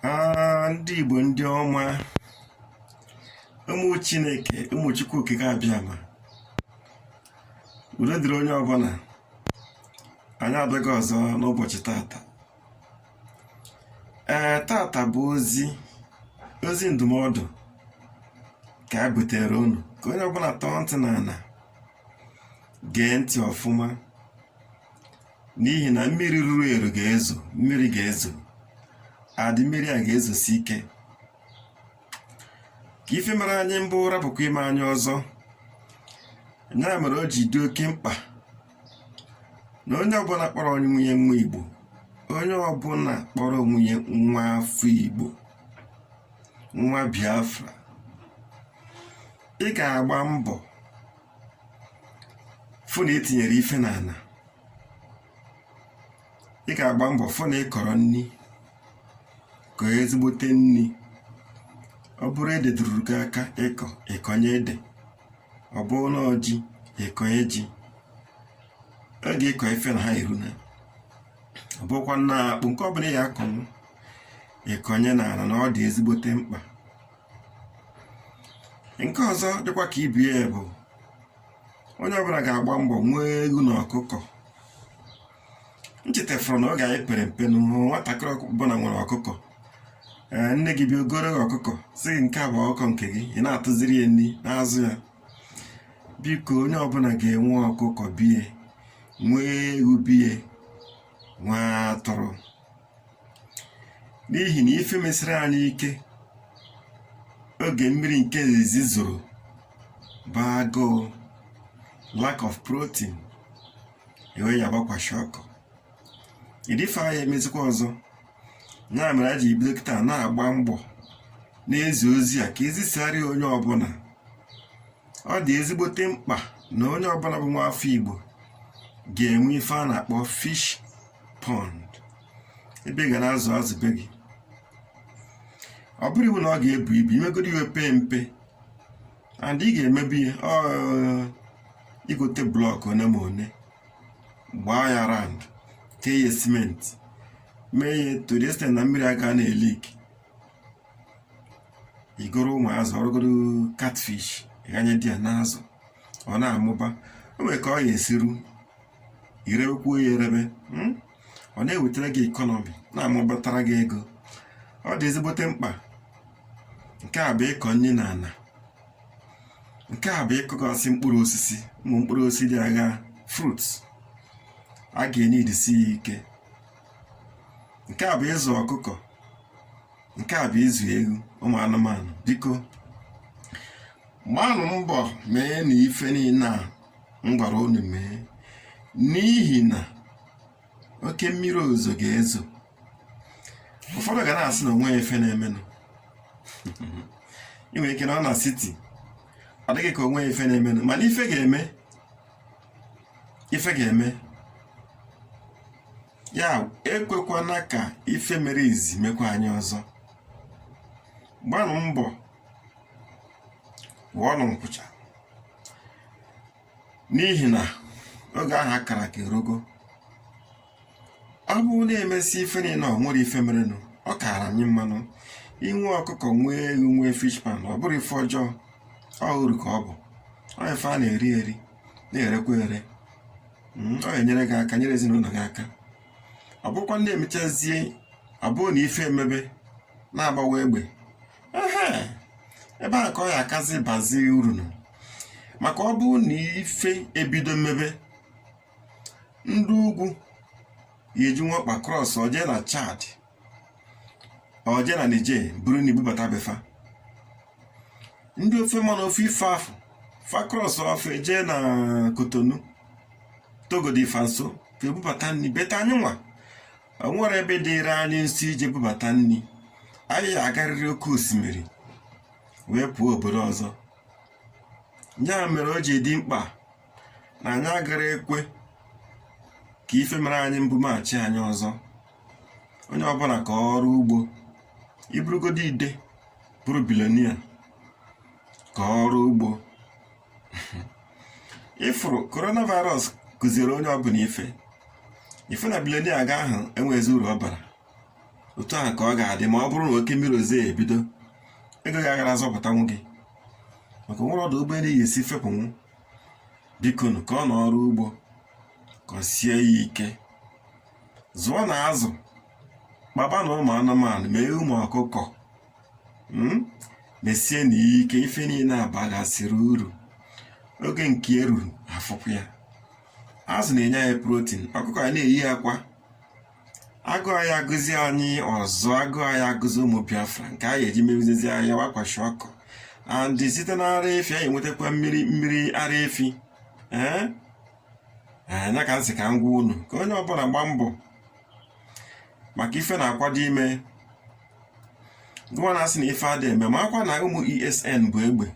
Ah, ndị Igbo ndị ọma ụmụ Chineke ụmụ Chukwu okike abịama udo dịrị onye ọbụla anyị abịago ọzọ n'ụbọchị tata ee eh, tata bụ ozi ozi ndụmọdụ ka anyị butere unu ka onye ọbụla tọọ ntị n'ana gee ntị ọfụma n'ihi na mmiri ruru eru ga-ezo mmiri ga-ezo and mmiri a ga-ezosi ike ka ife mere anyị mbụ rapụkwa ime anyị ọzọ ya mere o ji dị oke mkpa na onye ọbụla kpọrọ onye onwe ya nwa igbo onye ọbụla kpọrọ onwe ya nwa afọ igbo nwa biafra ị ga-agba mbọ fụ na i tinyere ife n'ana ị ga-agba mbọ fụ na ị kọrọ nni kọọ ezigbote nni ọ bụrụ ede ruru gị aka ịkọ ị kọnye ede ọ bụrụ na ọ ji ị kọnye ji ọ ga-ekọ ife na ha eru na ọ bụrụkwa na akpụ nke ọ bụla ị ga-akọnwu ị kọnye n'ana na ọ dị ezigbote mkpa nke ọzọ dịkwa ka ibe ya bụ onye ọbụla ga-agba mbọ nwee ewu na ọkụkọ m chetafụrụ na oge anyị pere mpe na nwatakịrị ọbụla nwere ọkụkọ ee nne gị bịa o goro ọkụkọ sị gị nke a bụ ọkụkọ nke gị ị na-atụziri ya nri na-azụ ya biko onye ọbụla ga-enwe ọkụkọ be ya nwee ewu be ya nwee atụrụ n'ihi na ife mesịrị anyị ike oge mmiri nke izizi zoro bụ agụụ lack of protein e wee yaba kwashiorkor ụdị ife a ya emezikwa ọzọ ya mere anyị ji bido kịta na-agba mbọ na-ezi ozi a ka e zisara onye ọbụla ọ dị ezigbote mkpa na onye ọbụla bụ nwa afọ Igbo ga-enwe ife a na-akpọ fish pond ebe ị ga na-azụ azụ be gị ọ bụrọ iwu na ọ ga-ebu ibu i megoro ya o pee mpe and ị ga-emebe ya i gote block one ma one gbaa ya round tee ya cement mee ya to the extent na mmiri aga na-eleak i goro ụmụ azụ ọ bụrụgoro catfish ghanye di ya na-azụ ọ na-amụba o nwere ka ọ ya-esi ru i rebekwuo ya erebe hmm? ọ na-ewetara gị ekọnọmi na-amụbatara gị ego ọ dị ezigbote mkpa nke a bụ ịkọ nni na ana nke a bụ ịkọgasị mkpụrụ osisi ụmụ mkpụrụ osisi dị agha fruits a ga-enye idisi ya ike nke a bụ ịzụ ọkụkọ nke a bụ ịzụ ewu ụmụ anụmanụ biko gbaanụ mbọ meenụ ife niile a m gwara unu mee n'ihi na oke mmiri ozuzo ga-ezo ụfọdụ ga na-asị na o nweghị ife na-emenụ ị nwere ike nọ na siti ọ dị gị ka o nweghị ife na-emenụ mana ife ga-eme ife ga-eme ya ekwekwana ka ife mere izizi mekwa anyị ọzọ gbaanụ mbọ wụọnụ nkwucha n'ihi na oge ahụ a kara aka erugo ọ bụrụ na e mesịa ife niile o nwerọ ife merenụ ọ kaara anyị mmanụ inwe ọkụkọ nwee ewu nwee fish pond ọ bụrọ ife ọjọọ ọ uru ka ọ bụ ọ ife a na-eri eri na-erekwa ere Mm, ọ ga-enyere gị aka nyere ezi na ụnọ gị aka ọ bụrụkwa na e mechazie ọ bụrụ na ife emebe na-agbawa egbe ebe a ka ọ ya-akazi bazie urunụ maka ọ bụrụ na ife ebido mebe ndị ugwu ya-eji nwa ọkpa krọs oje na chad oje na Niger buru nni bubata be fa ndị ofe mmanụ ofu ife afụ fa krọs ofe je na kotonu togo dị fa nso fa ebubata nni be fa anyị nwa o nwerọ ebe dịịrị anyị nso ije bubata nni anyị ya-agarịrị oke osimiri wee pụọ obodo ọzọ ya mere o ji dị mkpa na anyị agara ekwe ka ife mere anyị mbụ maachi anyị ọzọ onye ọbụla kọọ ọrụ ugbo ị bụrụgodu ide bụrụ bilonia kọọ ọrụ ugbo ị fụrụ coronavirus kụziere onye ọbụla ife ife na bilonia ga ahụ enweghịzi uru ọ bara otu ahụ ka ọ ga-adị ma ọ bụrụ na oke mmiri ozuzo ebido ego gị agara azọpụtanwu gị maka e nwerọ ọdụ ụgbọelu ị ya-esi fepụnwu bikonu kọọnụ ọrụ ugbo kọsie ya ike zụọnụ azụ kpabanụ ụmụ anụmanụ mee ụmụ ọkụkọ hmm? mesie nya ike ife niile a bagasịrị uru oge nke eruru afụkwa ya azụ na-enye anyị protin ọkụkọ anyị na-eyi akwa agụụ aya agụzi anyị ọzọ agụụ aya agụzi ụmụ biafra nke anyị eji mebizizi ayawa kwashiọkọ and site na ara efi anyị enwetakwa mmiri ara efi ee eh? nya eh, ka m sị ka m gwa unu ka onye ọbụla gbaa mbọ maka ife na-akwado ime gụwa na-asị na ife adị eme makwa na ụmụ ESN bu egbe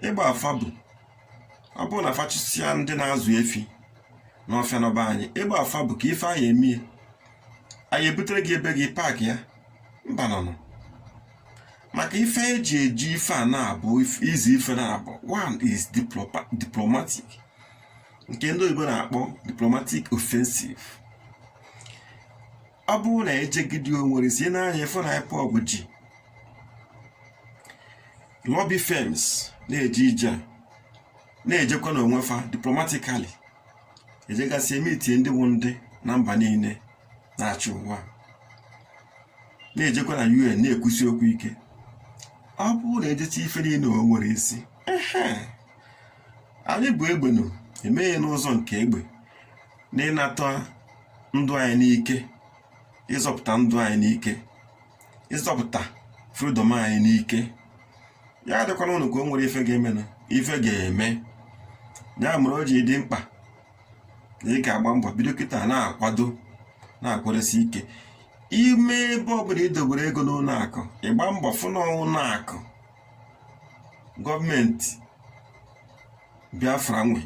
egbe a fa bu ọ bụrụ na fa chụsịa ndị na-azụ efi n'ọfịa nọ be anyị egbe a fa bu ka ife a ya-eme ya anyị ebutere gị ebe gị paakị ya mbanụ maka ife eji eji ife a na-abụzi ife naabọ one is diplomatic nke ndị oyibo na-akpọ diplomatic offensive ọ bụrụ na ejegide o nwere isi na anyị ịfụ na IPOB ji lobby firms na-eje ije na-ejekwa n'onwe fa diplomatically ejegasị emiti ndị bụ ndị na mba niile na-achị ụwa na-ejekwa na UN na-ekwusi okwu ike ọ bụrụ na ejecha ife niile o nwere isi anyị bụ egbenu emeghe n'ụzọ nke egbe na ịnata ndụ anyị n'ike ịzọpụta ndụ anyị n'ike ịzọpụta fridọm anyị n'ike ya adịkwana unu ka o nwere ife ga-eme na ife ga-eme ya mere o ji dị mkpa na ị ga-agba mbọ bido kịta na-akwado na-akwadosi ike ime ebe ọbụla i dobere ego n'ụlọ akụ ị gbaa mbọ fụ na ụlọ akụ gọọmenti biafra nwe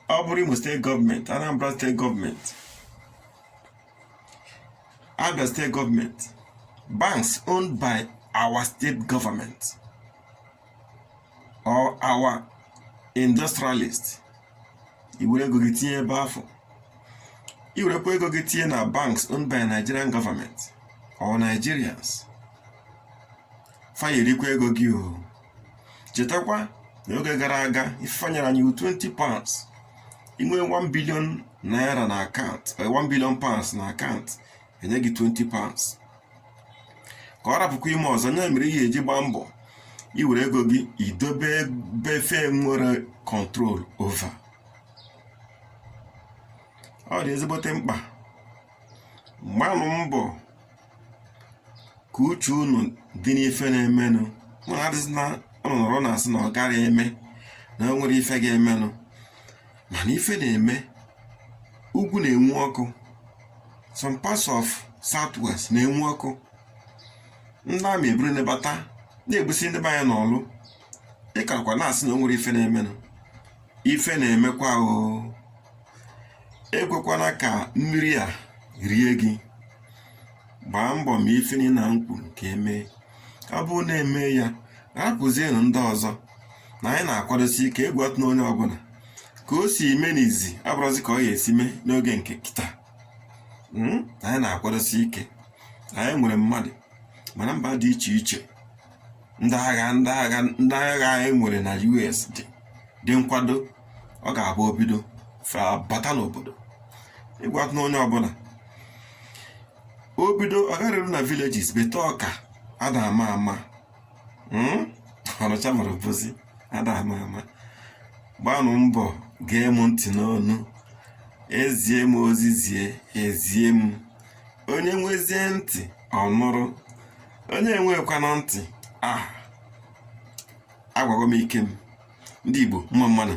ọ bụrụ Imo steeti gọọmenti Anambra steeti gọọmenti Abia steeti gọọmenti banks owned by our state government or our industrialist i were ego gị tinye ebe afụ i werekwa ego gị tinye na banks owned by Nigerian government or Nigerians fa ya-erikwa ego gị o chetakwa na oge gara aga ife enyere anyị wụ 20 pounds i nwee 1 billion naira na akaụntụ 1 eh, billion pounds na akaụntụ enye gị 20 pounds ka ọ rapụkwa ime ọzọ nya mere ị ya-eji gbaa mbọ i were ego gị idobe ebe fa enwerọ control over ọ dị ezigbote mkpa gbanụ mbọ ka uche unu dị n'ife na-emenụ mana adịzina unu nọrọ na-asị na ọ gaghị eme na o nwere ife ga-emenụ mana ife na-eme ugwu na-enwu ọkụ some parts of southwest na-enwu ọkụ ndị army eburu nebata na-egbusi ndị be anyị n'ọlụ ị karakwa na-asị na o nwere ife na-emenụ ife na-emekwa o ekwekwana ka mmiri a rie gị gbaa mbọ ma ife niile a m kwuru ka emee ọ bụrụ na emee ya rapụzienụ ndị ọzọ na anyị na-akwadosi ike egwu atụna onye ọbụla ka o si eme n'izi abụrọzi ka ọ ga-esi mee n'oge nke kịta Mm, anyị na-akwadosi ike anyị nwere mmadụ ma na mba dị iche iche ndị agha ndị agha anyị nwere na US dị dị nkwado ọ ga-abụ o bido fa bata n'obodo ị gwana onye ọbụla o bido o garuru na villages bata Ọka ada ama ama hmm? Ọnịcha ma Obosi ada ama ama gbanụ mbọ gee m ntị n'ọnụ ezie m ozi zie ezie m onye nwezie ntị ọ nụrụ onye enwekwana ntị ah agwago m ike m ndị Igbo mma mma nụ